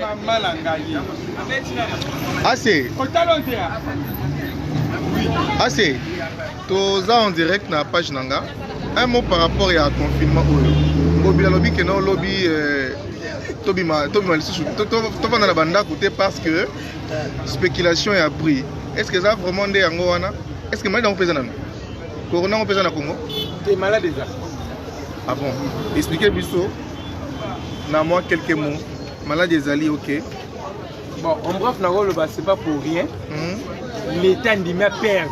Mama na ngai. Ase. Otalo te. Ase. Toza en direct na page na nga. Un mot par rapport ya confinement oyo. Ngobi alobi ke na lobi euh, tobima tobima lisusu tofanda na bandako te parce que spéculation ya prix est ce que eza vraiment nde yango wana est ce que mali yango mpe eza nano Corona yango mpeza na Congo te malade eza ah bon expliquer biso na moi quelques mots malade ezali ok bon en bref nakoloba c'est pas pour rien hmm? l'état ndimi aperde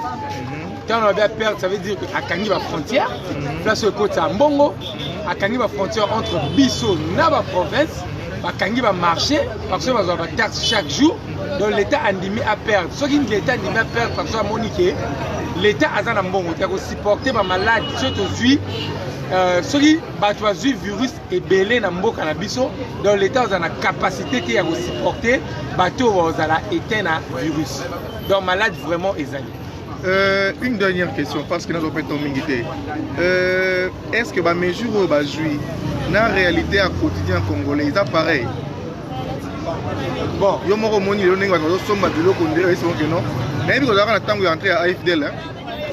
ntango hmm? alobi aperde ça veut dire que akangi bafrontière hmm? place oyo ekotisa mbongo akangi bafrontière entre biso na baprovince bakangi bamarché bakoso bazwa bataxe chaque jour donc l'état andimi a perdre soki l'état andimi a perdre parce que amoni ke l'état aza na mbongo te akosupporte bamalade soki tozwi euh, soki bato bazwi virus ebele na mboka na biso donc l'état ozala na capacité te ya kosupporte bato oyo baozala eteint na virus donc malade vraiment ezali Euh, une dernière question parce que nazo peto mingi te euh, est ce que ba mesure oyo bazwi na réalité ya quotidien congolais eza pareil bon yo moko omoni lelo ndenge bato bazosomba biloko nde oyesi moke non nayebi kozalaka na ntango ya entré ya afdl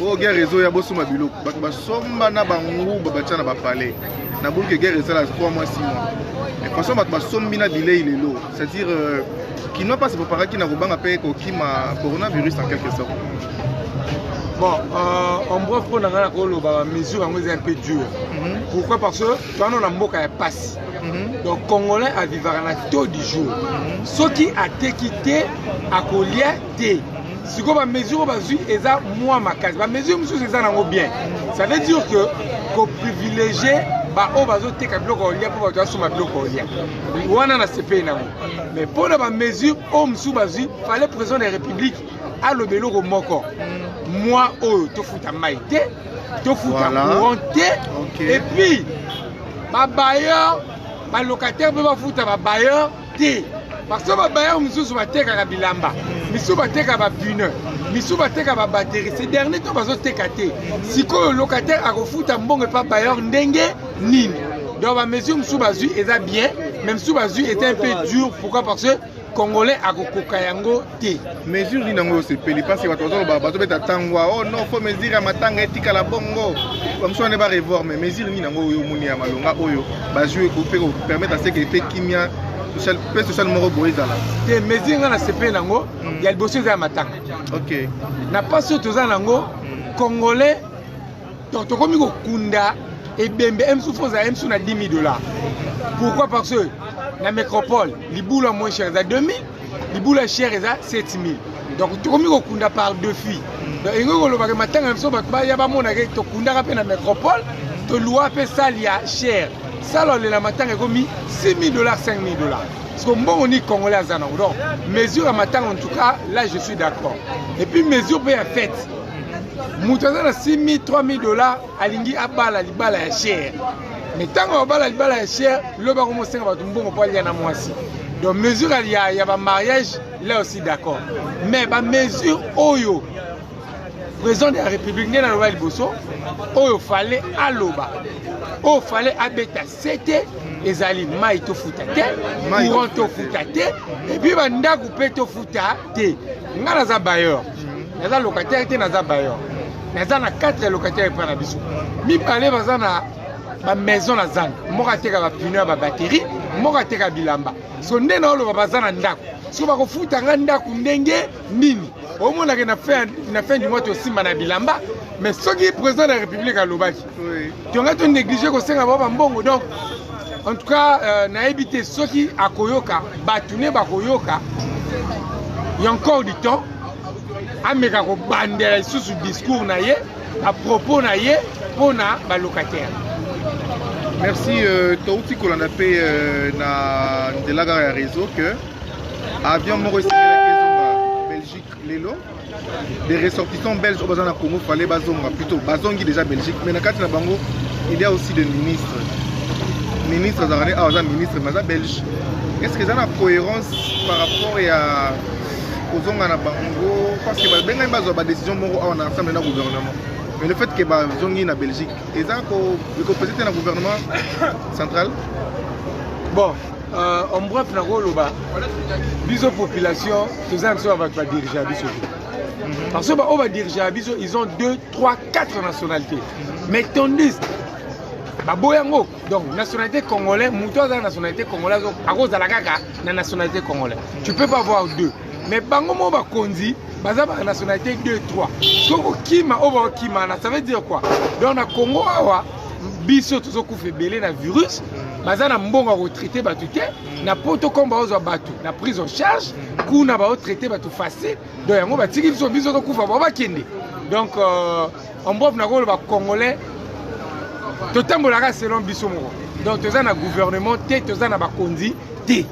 oyo guerre réseau ya bosomba biloko bato basomba na banguba batya na bapalais na buluki guerre esala 3 mois 6 mois mais façon bato basombi na bilei lelo c'est-à-dire euh, kinois mpasi boparaki na kobanga mpe kokima coronavirus en quelque sorte bon euh, en bref mpo na ngai nakoloba mesure yango eza un peu dure mhm. pourquoi parce que toana na mboka ya mpasi Mhm. donc congolais avivaka na taux du jour mhm. soki ateki te akolia te mhm. sikoyo bamesure bazwi eza mwa makasi bamesure mosusu eza nango bien ça veut dire que koprivilégie baoyo bazoteka biloko olia mpo bato basomba biloko olia wana na sepei nango mais mpo na bamesure oyo mosusu bazwi fale président de la république aloba eloko moko mwa oyo tofuta mai te tofuta courant te epuis ba bailleurs ba locataires mpe bafuta ba bailleurs te parce que ba bailleurs mosusu batekaka bilamba misusu bateka ba pneu misusu bateka ba batterie ce dernier to bazoteka te sikoyo locataire akofuta mbongo epa bailleur ndenge nini donc bamesure mosusu bazwi eza bien mais mosusu bazwi eza un peu dur pourquoi parce que congolais akokoka yango te mesure nini yango osepeli mpasi bato bazoloba bazobeta tangwa o oh non fo mesure ya matanga etikala bongo bamosu wana barevoir mais mesure nini yango oyo omoni ya malonga oyo bazwi ekope kopermettre aseke mpe kimia mpe social moko boye ezala te mesure ngai nasepeli yango hmm. ya liboso eza ya matanga ok na mpasi oyo toza na yango hmm. congolais Donc tokomi kokunda ebembe emsu foza emsu na 10 000 dollars. Pourquoi parce que na métropole libula moins cher eza 2 000 libula cher eza 7 000 donc tokomi kokunda par deux filles donc elingi kolobaka matanga na biso bato baya bamonaka tokundaka mpe na métropole tolua mpe sale ya cher sale olela matanga ekomi 6 000 dollars 5 000 dollars parce que mbongo ni congolais aza nango donc mesure ya matanga en tout cas là je suis d'accord et puis mesure mpe ya fête moto aza na 6000 3000 dollars alingi abala libala ya chere me ntango abala libala ya chere lobi ako mosenga bato mbongo mpo alia na mwasi donc mesure ya, ya bamariage là aussi d'accord mais bamesure oyo président de la république nde naloba liboso oyo fale aloba oyo fale abeta se te ezali mai tofuta te courant tofuta te epuis bandako mpe tofuta te ngai naza bayor mm. naza locataire te naza bayor naza na 4 ya locataire epai na biso mibale baza na bamaison na zanga moko ateka bapino ya babateri moko ateka bilamba so nde naoloba baza na ndako so bakofuta ngai ndako ndenge nini omonake na fin du mois tosimba na bilamba mais soki président de la république alobaki tonga to néglige kosenga bango bambongo donc en tout cas euh, nayebi te soki akoyoka bato ne bakoyoka ya encore du temps ameka kobandela lisusu discours na ye apropos na ye mpo na balocataire merci euh, touti kolanda mpe euh, na nzela kaka ya réseau que avion moko esengelaki ezonga belgique lelo des ressortissants belges oyo baza na congo fale bazonga plutôt bazongi déjà belgique mais na kati na bango il y a aussi des ministres ministre azalaka nde awa aza ministre mais aza belge est ce que eza na cohérence par rapport ya kozonga na bango parce que babengami bazwa badécision moko awa na ensemble na gouvernement mais le fait que bazongi na belgique eza ekopese te na gouvernement central bon euh, en bref nakoloba biso population toza na biso na bato badirige ya biso te mhm. parce que baoyo badirige ya biso ils ont 2 3 4 nationalité mhm. mais tandis baboya yango donc nationalité congolais moto aza na nationalité congolais akozala kaka na nationalité congolais tu peux pas avoir deux mais bango moko bakonzi baza ba nationalité 2 3 soki kokima oyo bakokima na ça veut dire quoi donc na congo awa biso tozokufa ebele na virus baza na mbongo ya kotraite bato te na poto comme baozwa bato na prise en charge kuna baotraite bato facile donc yango batiki biso biso tokufa bao bakende donc euh, ombof nakoloba congolais totambolaka selon biso moko donc toza na gouvernement te toza na bakonzi te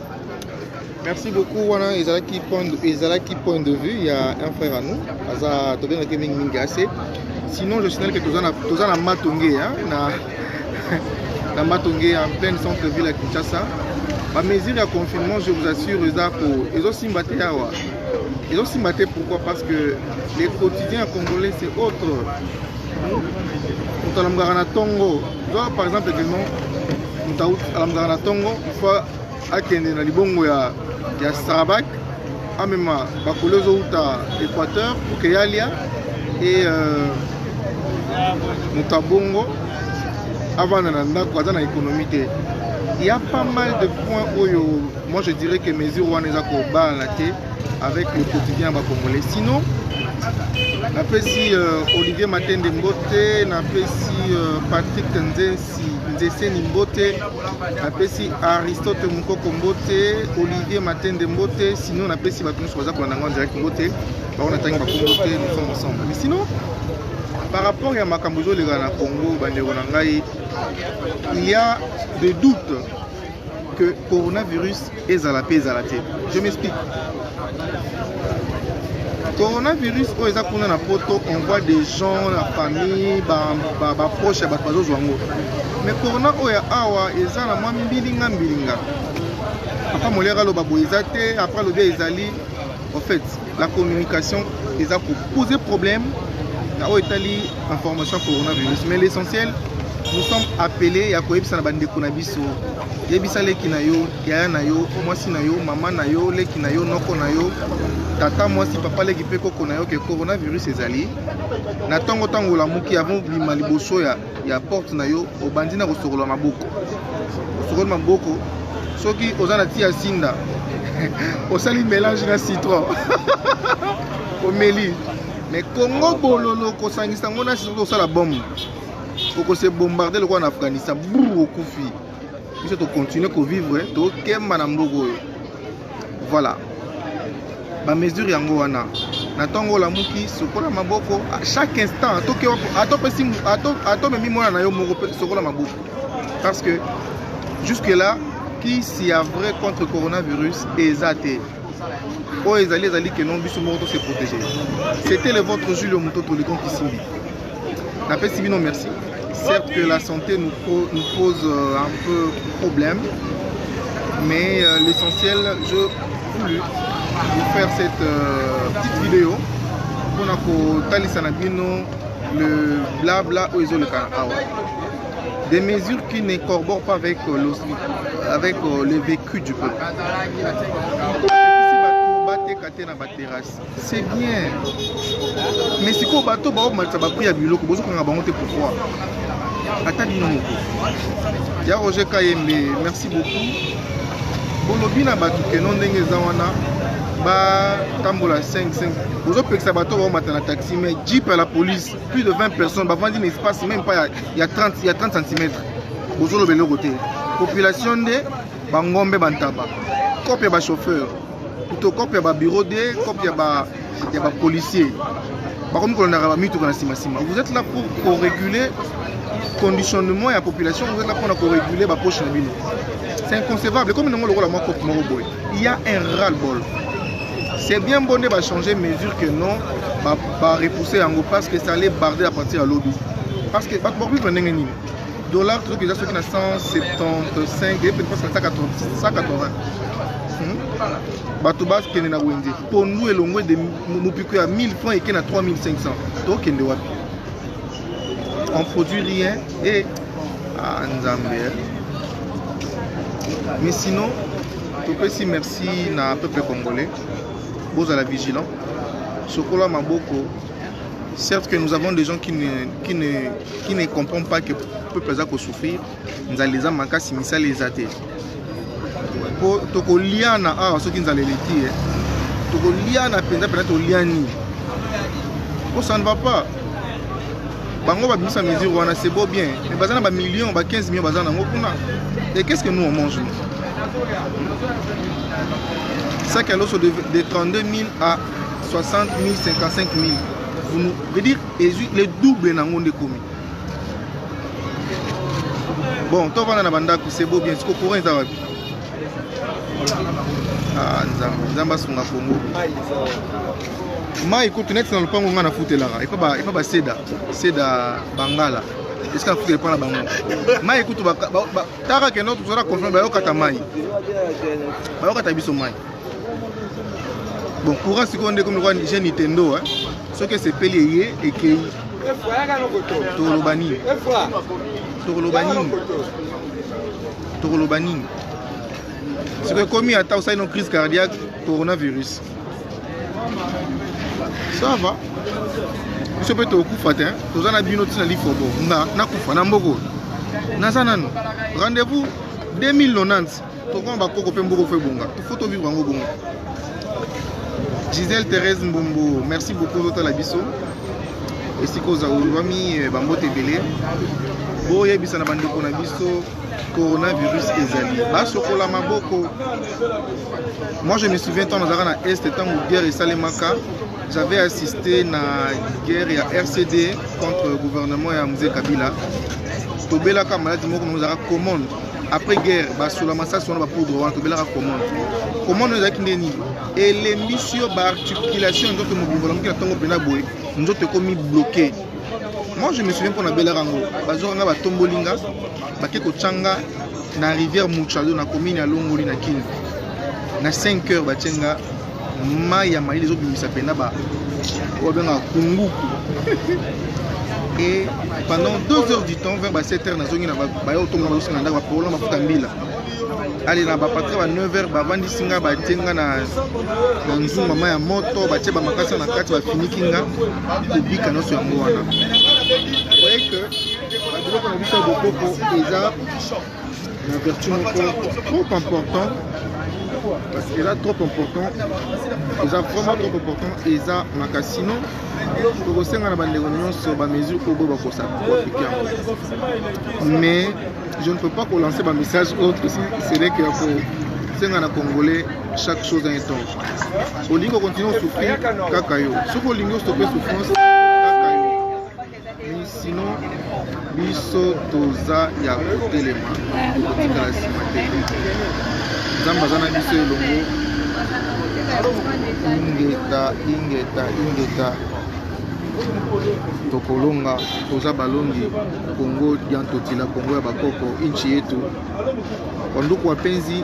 merci beaucoup wana ezalaki point ezalaki point de vue ya un frère à nous aza tobengaki mingi mingi ase sinon je signale que toza na toza na matonge na na matonge en pleine centre ville ya kinshasa bamesure ya confinement je vous assure eza ezosimba te awa ezosimba te pourquoi parce que le quotidien ya congolais c'est autre moto alamukaka na ntongo zwa par exemple ekeno moto alamukaka na ntongo fois akende na libongo ya, ya Sarabak amema bakolo ezowuta Equateur pour que yalia e euh, moto abongo avanda na ndako aza na économie te il y a pas mal de points oyo moi je dirais que mesure wana eza kobala te avec le quotidien ya bacongolais sinon napesi euh, olivier matende mbote napesi euh, patrick nzensi Ndeseni mbote, napesi Aristote Mukoko mbote, Olivier Matende mbote, sinon napesi bato nyonso baza kolanda ngai direct mbote, bango natangi bakombo te, nous sommes ensemble. Mais sinon, par rapport ya makambo ezoleka na Congo, bandeko na ngai, il y a des doutes que coronavirus ezala mpe ezala te je m'explique coronavirus oyo eza kuna na poto on voit des gens la famille baproche ya bato bazozwa yango mais corona oyo ya awa eza na mwa mbilinga mbilinga apa moliaka aloba boye eza te apa alobi ezali en fait La communication eza ko poser problème na oyo etali information ya coronavirus mais l'essentiel nous sommes appelés ya koyebisa na bandeko na biso yebisa leki na yo yaya na yo mwasi na yo mama na yo leki na yo noko na yo tata mwasi papa leki mpe koko na yo ke coronavirus ezali na ntongo ntango olamuki avant obima liboso ya ya porte na yo obandi na kosokola maboko osokoli maboko soki oza na ti ya sinda osali mélange na citron omeli mais kongo bololo kosangisa yango na citron osala bombe okose bombarde lokola na afghanistan bur okufi biso tocontinue kovivre tokemba na mboka oyo voilà bamesure yango wana na ntongo olamuki sokola maboko chaque instant atomemi mwana na yo moko mpe sokola maboko parce que jusque là kisi ya vrai contre coronavirus eza te oyo ezali ezali que non biso moko tose protégé c'était le votre julio mototo licon kisimbi napesi bino merci certes que la santé nous, pro, nous pose euh, un peu problème mais euh, l'essentiel je voulais vous faire cette euh, petite vidéo mpona kotalisa na bino le blabla oyo ezoleka awa Des mesures qui ne corroborent pas avec, euh, avec euh, le vécu du peuple. te na baterrasse c'est bien mais sikoyo bato baomatisa bapri ya biloko bozokanga bango te pourquoi ata bino moko ya roger kayembe merci beaucoup bolobi na bato keno ndenge eza wana batambola 55 bozopekisa bato baomata na taxi mais jeep ya la police plus de 20 personnes bavandi na espace même pas ya 30 ya 30 cm bozoloba eloko te population nde bangombe bantaba cope ya bachauffeur to cope ya babureau de cope ya bapolicier bakomi kolonaka bamituka na nsima nsima vous êtes là pour koreguler conditionnement ya population vous êtes là mpona koreguler bapoche na bino c'est inconcevable ekomi nango lokola mwa cope moko boye il y a un ras-le-bol c'est bien bon nde bachanger mesure que non barepousser yango parce que ça allait barder à partir ya lobi parce que bato bakovivre ndenge nini dollar tozoki eza soki na 175 ye pene presque na 180 bato bakende na wenze pondu elongwe de mopiko ya 1000 francs eke na 3500 tokende wapi on produit rien Eh, ah, Nzambe. Eh. Mais sinon, topesi merci na peuple congolais. Bozala vigilant. Sokola maboko. Certes que nous avons des gens qui ne, qui ne, qui ne comprennent pas que peuple aza ko souffrir. Nzali eza makasi misali eza te. po tokoliana awa ah, soki nzala eleki ye eh. tokoliana mpenza mpenza toliani po ça ne va pas bango babimisa mesure wana c'est beau bien mais baza na bamillion ba 15 million baza nango kuna et qu'est ce que nous on mange nous sac à loso de, de 32 000 à 60 000 55 000 vous nous veut dire le double nango nde komi bon tovanda na bandako sebo bien siko courant eza wapi ah, nzambe nzambe asunga kongo mai kutu neti na lopango ngai nafutelaka epa baseda seda bangala esika afutela epa na bango mai kutu taka keno tozala confirme bayokata mai bayokata biso mai bon courant sikoyo nde komi lokola jeune nintendo soki esepeli eye ekei tokoloba nini tokoloba nini tokoloba nini sikoyo ekomi ata osali no crise cardiaque coronavirus ça va biso mpe tokokufa te toza na bino ntina lifobo nga nakufa na mboko naza nano rendez-vous 2090 tokoma bakoko mpe mboko fo ebonga fo tovivre yango bongo gisele therese mbumbu merci beaucoup ozotala biso esika ozawami eh, bambote ebele boyebisa na bandeko na biso coronavirus ezali basokola maboko moi je me souviens ntango nazalaka na est ntango guerre esalemaka j'avais assisté na guerre ya rcd contre gouvernement ya mzee kabila tobelaka maladi moko nazalaka commande après guerre basola masasi wana bapoudre wana tobelaka commande commande oyo ezalaki nde nini elembisi yo baarticulation ya nzoto mobimbola moki na ntongo mpenza boye nzoto ekomi bloke moi je me souviens mpo nabelaka yango bazwaka nga batomboli nga bake kotya nga na rivière muchado na commune ya longoli na kini na 5 heures batye nga mai ya malili ezobimisa mpena ba oyo abengaka kunguku et pendant 2 heures du temps vers ba 7 heures nazongi na baya otonga bazosenga na ndako bapaola mafuta mbila ale na bapatre ba 9 heures bavandisi nga batie nga na nzungu mama ya moto batie bamakasa na kati bafiniki nga kobika nyonso yango wana voye que babiloko na biso ya bokoko eza na vertu moko trop important parce que là trop important eza vraiment trop important eza maka sinon tokosenga na bandeko nyonso bamesure oyo boye bakosa koapplike yango mais je ne peux pas kolancer bamessage autre cele que ya kosenga na congolais chaque chose en temps olingi kocontinue osouffrir kaka yo soki olingi ostope souffrance sinon biso toza ya kotelema kotikala nsima te nzambe aza na biso elongo ingeta ingeta ingeta tokolonga toza balongi kongo diantotila kongo ya bakoko inchi yetu wanduku wapenzi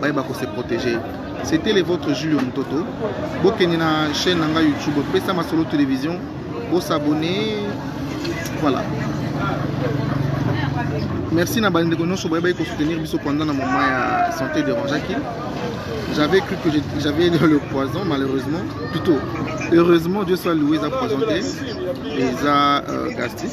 bayeba ko se protéger c'était le votre Julio Mutoto bokende na chaîne na ngai YouTube pesa masolo télévision bo s'abonner voilà merci na bandeko nyonso boyebaki kosoutenir biso pendant na moment ya santé dérangeaki j'avais cru que j'avais le poison malheureusement plutôt heureusement dieu soit loué eza poison te eza euh, gastrique